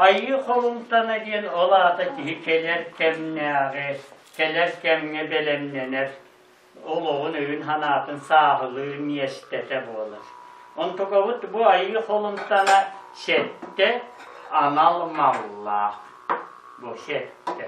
Айыы Холумтана диэн ол аата киһи кэлэр кэмнээҕи, кэлэр кэмҥэ бэлэмнэнэр олоҕун өйүн-санаатын сааһылыыр миэстэтэ буолар. Онтукабыт бу Айыы Холумтана сэттэ анал маллаах. Бу сэттэ.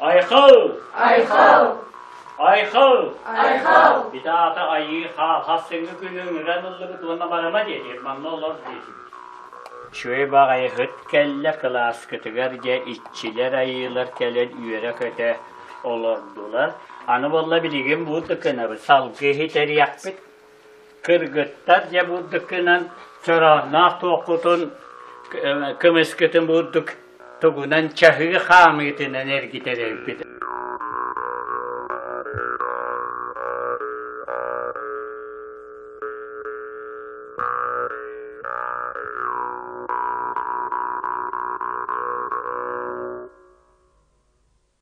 Айхал! Айхал! Айхал! Айхал! Ити аата айыы хаалхас сыҥы күнүн ыран ыллыбыт уонна барыма диэтир манна олор диэтибит. Шуйбах айыгыт кэллэ кылааскытыгар дьэ иччилэр айыылар кэлэн үөрэ-көтө олордулар. Аны болла билигин бу тыкынабыт, салгы иһит эриэхпит. Кыргыттар дьэ бурдуккунан чороонноох туоххутун көмүскүтүн бурдук тугунан чаһыы хаамыытынан эргитэр эбиппит